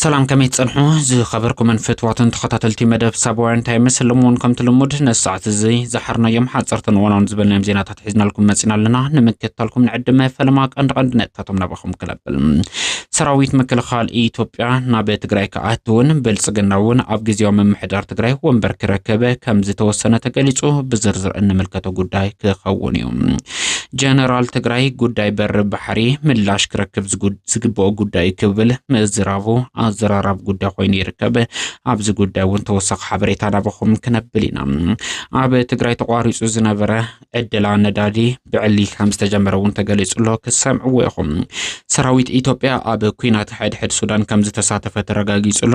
ሰላም ከመይ ትጸንሑ ዝኸበርኩምን ፍትዋትን ተኸታተልቲ መደብ ሳባውያን እንታይ ይመስል እውን ከምቲ ልሙድ ነዚ ሰዓት እዚ ዝሓርናዮም ሓፀርትን እዋናውን ዝበልናዮም ዜናታት ሒዝናልኩም መፂና ኣለና ንምክትታልኩም ንዕድመ ፈለማ ቀንዲ ቀንዲ ነጥታቶም ናባኹም ክለብል ሰራዊት ምክልኻል ኢትዮጵያ ናብ ትግራይ ክኣትውን ብልፅግና እውን ኣብ ግዜያዊ ምምሕዳር ትግራይ ወንበር ክረክብ ከም ዝተወሰነ ተገሊፁ ብዝርዝር እንምልከቶ ጉዳይ ክኸውን እዩ ጀነራል ትግራይ ጉዳይ በሪ ባሕሪ ምላሽ ክረክብ ዝግብኦ ጉዳይ እዩ ክብል ምዝራቡ ኣዘራራቢ ጉዳይ ኮይኑ ይርከብ። ኣብዚ ጉዳይ እውን ተወሳኺ ሓበሬታ ናባኹም ክነብል ኢና። ኣብ ትግራይ ተቋሪፁ ዝነበረ ዕድላ ነዳዲ ብዕሊ ከም ዝተጀመረ እውን ተገሊፁ ኣሎ። ክሰምዕዎ ኢኹም። ሰራዊት ኢትዮጵያ ኣብ ኩናት ሕድሕድ ሱዳን ከም ዝተሳተፈ ተረጋጊፁ ኣሎ።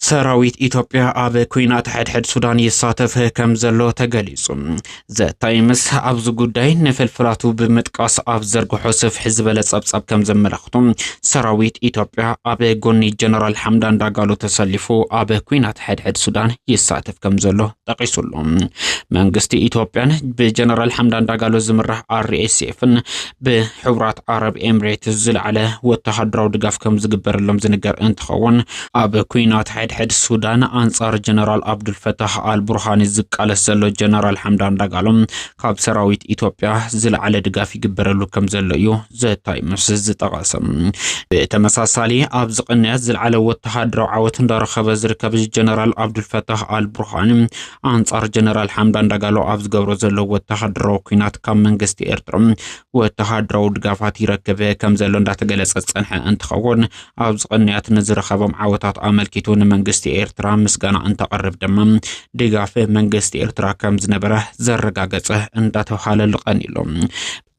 ሰራዊት ኢትዮጵያ ኣብ ኩናት ሕድሕድ ሱዳን ይሳተፍ ከም ዘሎ ተገሊጹ። ዘታይምስ ኣብዚ ጉዳይ ንፍልፍላቱ ብምጥቃስ ኣብ ዘርግሖ ስፍሕ ዝበለ ጸብጻብ ከም ዘመላኽቱ ሰራዊት ኢትዮጵያ ኣብ ጎኒ ጀነራል ሓምዳን ዳጋሎ ተሰሊፉ ኣብ ኩናት ሕድሕድ ሱዳን ይሳተፍ ከም ዘሎ ጠቂሱሉ። መንግስቲ ኢትዮጵያን ብጀነራል ሓምዳን ዳጋሎ ዝምራሕ ኣርኤስኤፍን ብሕቡራት ዓረብ ኤምሬትስ ዝለዓለ ወተሃደራዊ ድጋፍ ከም ዝግበረሎም ዝንገር እንትኸውን ኣብ ኩናት ሕድሕድ ሱዳን ኣንጻር ጀነራል ኣብዱልፈታህ ኣልቡርሃኒ ዝቃለስ ዘሎ ጀነራል ሓምዳን ዳጋሎ ካብ ሰራዊት ኢትዮጵያ ዝለዓለ ድጋፍ ይግበረሉ ከም ዘሎ እዩ ዘታይምስ ዝጠቐሰ። ብተመሳሳሊ ኣብዚ ቅንያት ዝለዓለ ወተሃደራዊ ዓወት እንዳረኸበ ዝርከብ ጀነራል ኣብዱልፈታህ ኣልቡርሃኒ ኣንጻር ጀነራል ሓምዳን ዳጋሎ ኣብ ዝገብሮ ዘሎ ወተሃደራዊ ኩናት ካብ መንግስቲ ኤርትራ ወተሃደራዊ ድጋፋት ይረክብ ከም ዘሎ እንዳተገለጸ ዝጸንሐ እንትኸውን ኣብዚ ቅንያት ንዝረኸቦም ዓወታት ኣመልኪቱ ንመንግስቲ ኤርትራ ምስጋና እንተቐርብ ድማ ድጋፍ መንግስቲ ኤርትራ ከም ዝነበረ ዘረጋገጸ እንዳተባሃለሉ ቀኒሉ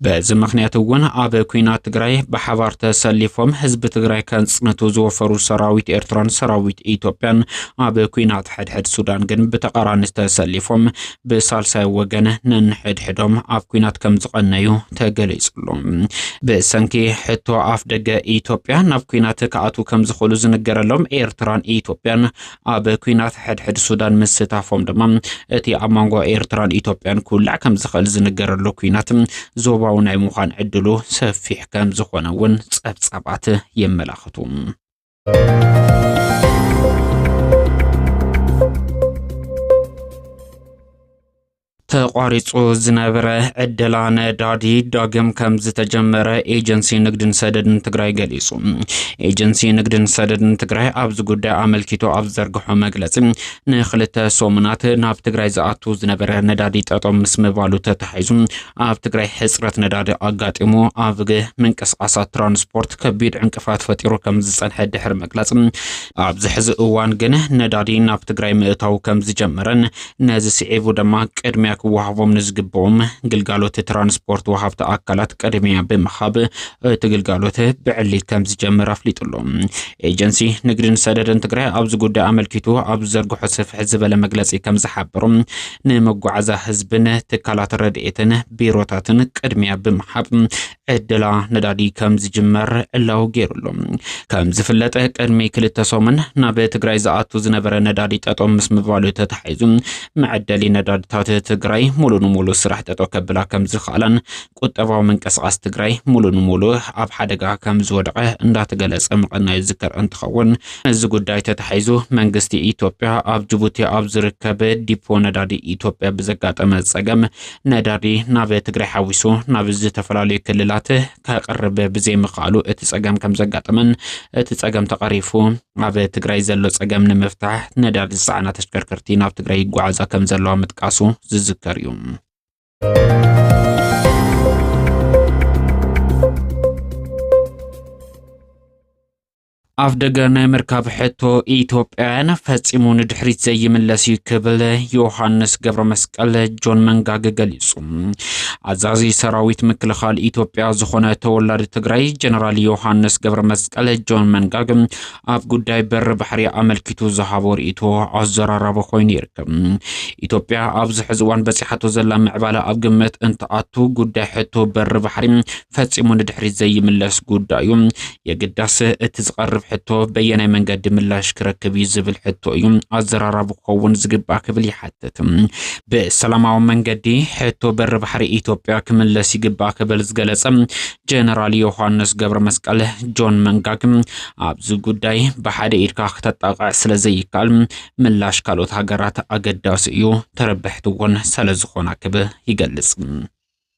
በዚ ምክንያት እውን ኣብ ኩናት ትግራይ ብሓባር ተሰሊፎም ህዝቢ ትግራይ ከንፅንቱ ዝወፈሩ ሰራዊት ኤርትራን ሰራዊት ኢትዮጵያን ኣብ ኩናት ሕድሕድ ሱዳን ግን ብተቃራኒ ተሰሊፎም ብሳልሳይ ወገን ነንሕድሕዶም ኣብ ኩናት ከም ዝቐነዩ ተገሊጹሉ። ብሰንኪ ሕቶ ኣፍ ደገ ኢትዮጵያ ናብ ኩናት ክኣትዉ ከም ዝኽእሉ ዝንገረሎም ኤርትራን ኢትዮጵያን ኣብ ኩናት ሕድሕድ ሱዳን ምስታፎም ድማ እቲ ኣብ መንጎ ኤርትራን ኢትዮጵያን ክውላዕ ከም ዝኽእል ዝንገረሉ ኩናት ዞባዊ ናይ ምዃን ዕድሉ ሰፊሕ ከም ዝኾነ እውን ጸብጻባት የመላኽቱ። ተቋሪፁ ዝነበረ ዕደላ ነዳዲ ዳግም ከም ዝተጀመረ ኤጀንሲ ንግድን ሰደድን ትግራይ ገሊፁ። ኤጀንሲ ንግድን ሰደድን ትግራይ ኣብዚ ጉዳይ ኣመልኪቱ ኣብ ዘርግሖ መግለፂ ንክልተ ሰሙናት ናብ ትግራይ ዝኣቱ ዝነበረ ነዳዲ ጠጠው ምስ ምባሉ ተታሒዙ ኣብ ትግራይ ሕፅረት ነዳዲ ኣጋጢሙ ኣብ ምንቅስቃሳት ትራንስፖርት ከቢድ ዕንቅፋት ፈጢሩ ከም ዝፀንሐ ድሕሪ መግለፂ ኣብዚ ሕዚ እዋን ግን ነዳዲ ናብ ትግራይ ምእታው ከም ዝጀመረን ነዚ ስዒቡ ድማ ቅድሚያ ክወሃቦም ንዝግብኦም ግልጋሎት ትራንስፖርት ወሃብቲ ኣካላት ቅድሚያ ብምሃብ እቲ ግልጋሎት ብዕሊ ከም ዝጀምር ኣፍሊጡ ኣሎ። ኤጀንሲ ንግድን ሰደድን ትግራይ ኣብዚ ጉዳይ ኣመልኪቱ ኣብ ዝዘርግሖ ስፍሕ ዝበለ መግለፂ ከም ዝሓበሩ ንመጓዓዛ ህዝብን ትካላት ረድኤትን ቢሮታትን ቅድሚያ ብምሃብ ዕደላ ነዳዲ ከም ዝጅመር ዕላዊ ገይሩሉ ከም ዝፍለጠ ቅድሚ ክልተ ሰሙን ናብ ትግራይ ዝኣቱ ዝነበረ ነዳዲ ጠጦ ምስ ምባሉ ተታሒዙ መዐደሊ ነዳድታት ትግራይ ሙሉ ንሙሉ ስራሕ ጠጦ ከብላ ከም ዝኽኣላን ቁጠባዊ ምንቅስቓስ ትግራይ ሙሉ ንሙሉ ኣብ ሓደጋ ከም ዝወደቐ እንዳተገለጸ ምቐናዩ ዝከር እንትኸውን እዚ ጉዳይ ተታሒዙ መንግስቲ ኢትዮጵያ ኣብ ጅቡቲ ኣብ ዝርከብ ዲፖ ነዳዲ ኢትዮጵያ ብዘጋጠመ ጸገም ነዳዲ ናብ ትግራይ ሓዊሱ ናብ ዝተፈላለዩ ክልላት ከቕርብ ብዘይምኽኣሉ እቲ ጸገም ከም ዘጋጠመን እቲ ጸገም ተቐሪፉ ኣብ ትግራይ ዘሎ ጸገም ንምፍታሕ ነዳዲ ዝጸዓና ተሽከርከርቲ ናብ ትግራይ ይጓዓዛ ከም ዘለዋ ምጥቃሱ ዝዝከር እዩ። ኣፍ ደገ ናይ ምርካብ ሕቶ ኢትዮጵያውያን ፈጺሙ ንድሕሪት ዘይምለስ እዩ ክብል ዮሃንስ ገብረ መስቀል ጆን መንጋግ ገሊጹ። ኣዛዚ ሰራዊት ምክልኻል ኢትዮጵያ ዝኾነ ተወላዲ ትግራይ ጀነራል ዮሃንስ ገብረ መስቀል ጆን መንጋግ ኣብ ጉዳይ በሪ ባሕሪ ኣመልኪቱ ዝሃቦ ርእይቶ ኣዘራራቢ ኮይኑ ይርከብ። ኢትዮጵያ ኣብዚ ሕዚ እዋን በፂሓቶ ዘላ ምዕባለ ኣብ ግምት እንትኣቱ ጉዳይ ሕቶ በሪ ባሕሪ ፈጺሙ ንድሕሪት ዘይምለስ ጉዳይ እዩ። የግዳስ እቲ ዝቐርብ ሕቶ በየናይ መንገዲ ምላሽ ክረክብ እዩ ዝብል ሕቶ እዩ ኣዘራራቢ ክኸውን ዝግባእ ክብል ይሓትት። ብሰላማዊ መንገዲ ሕቶ በሪ ባሕሪ ኢትዮጵያ ክምለስ ይግባእ ክብል ዝገለጸ ጀነራል ዮሃንስ ገብረ መስቀል ጆን መንጋግ ኣብዚ ጉዳይ ብሓደ ኢድካ ክተጣቕዕ ስለ ዘይካል ምላሽ ካልኦት ሃገራት ኣገዳሲ እዩ፣ ተረብሕቲ እውን ስለ ዝኾና ክብል ይገልጽ።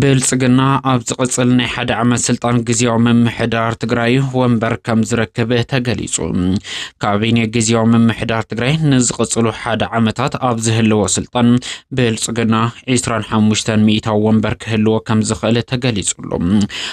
ብልፅግና ኣብ ዝቕፅል ናይ ሓደ ዓመት ስልጣን ግዜያዊ ምምሕዳር ትግራይ ወንበር ከም ዝረክብ ተገሊፁ። ካቢኔ ግዜያዊ ምምሕዳር ትግራይ ንዝቕፅሉ ሓደ ዓመታት ኣብ ዝህልዎ ስልጣን ብልፅግና 25 ሚእታዊ ወንበር ክህልዎ ከም ዝኽእል ተገሊፁሉ።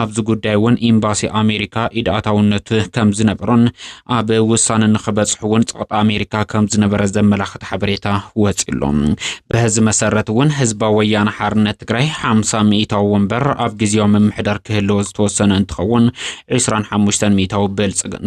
ኣብዚ ጉዳይ እውን ኤምባሲ ኣሜሪካ ኢድ ኣታውነቱ ከም ዝነበሮን ኣብ ውሳነ ንክበፅሑ እውን ፀቕጢ ኣሜሪካ ከም ዝነበረ ዘመላኽት ሓበሬታ ወፂኡ ኣሎ። በዚ መሰረት እውን ህዝባዊ ወያነ ሓርነት ትግራይ ሓምሳ ሚእታዊ ወንበር ኣብ ግዜያዊ ምምሕዳር ክህልዎ ዝተወሰነ እንትኸውን ዒስራን ሓሙሽተን ሚእታዊ ብልፅግና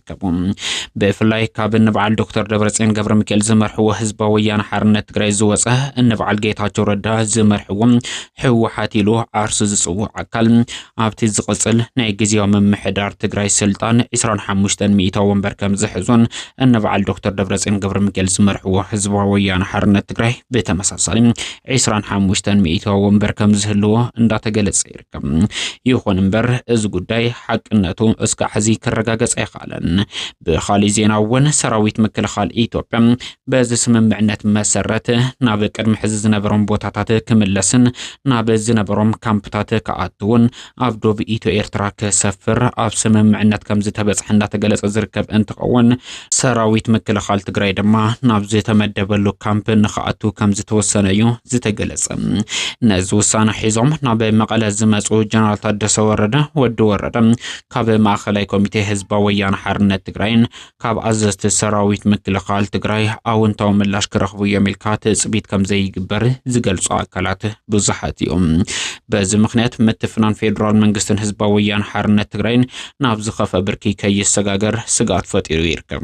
ይርከቡ። ብፍላይ ካብ እንበዓል ዶክተር ደብረፅዮን ገብረ ሚካኤል ዝመርሕዎ ህዝባዊ ወያነ ሓርነት ትግራይ ዝወፀ እንበዓል ጌታቸው ረዳ ዝመርሕዎ ህወሓት ኢሉ ዓርሱ ዝፅውዕ ኣካል ኣብቲ ዝቕፅል ናይ ግዜያዊ ምምሕዳር ትግራይ ስልጣን 25 ሚእታ ወንበር ከም ዝሕዙን እንበዓል ዶክተር ደብረፅዮን ገብረ ሚካኤል ዝመርሕዎ ህዝባዊ ወያነ ሓርነት ትግራይ ብተመሳሳሊ 25 ሚእታ ወንበር ከም ዝህልዎ እንዳተገለፀ ይርከብ። ይኹን እምበር እዚ ጉዳይ ሓቅነቱ እስከ ሕዚ ክረጋገጽ ኣይከኣለን። ብኻሊእ ዜና እውን ሰራዊት ምክልኻል ኢትዮጵያ በዚ ስምምዕነት መሰረት ናብ ቅድሚ ሕዚ ዝነበሮም ቦታታት ክምለስን ናብ ዝነበሮም ካምፕታት ክኣትውን ኣብ ዶብ ኢትዮ ኤርትራ ክሰፍር ኣብ ስምምዕነት ከም ዝተበጽሐ እናተገለጸ ዝርከብ እንትኸውን ሰራዊት ምክልኻል ትግራይ ድማ ናብ ዝተመደበሉ ካምፕ ንክኣቱ ከም ዝተወሰነ እዩ ዝተገለጸ። ነዚ ውሳነ ሒዞም ናብ መቐለ ዝመፁ ጀነራል ታደሰ ወረደ ወዲ ወረደ ካብ ማእኸላይ ኮሚቴ ህዝባዊ ወያነ ሓርነት ትግራይን ካብ ኣዘዝቲ ሰራዊት ምክልኻል ትግራይ ኣውንታዊ ምላሽ ክረኽቡ እዮም ኢልካ ትፅቢት ከም ዘይግበር ዝገልፁ ኣካላት ብዙሓት እዮም። በዚ ምክንያት ምትፍናን ፌዴራል መንግስትን ህዝባዊ ወያነ ሓርነት ትግራይን ናብ ዝኸፈ ብርኪ ከይሰጋገር ስግኣት ፈጢሩ ይርከብ።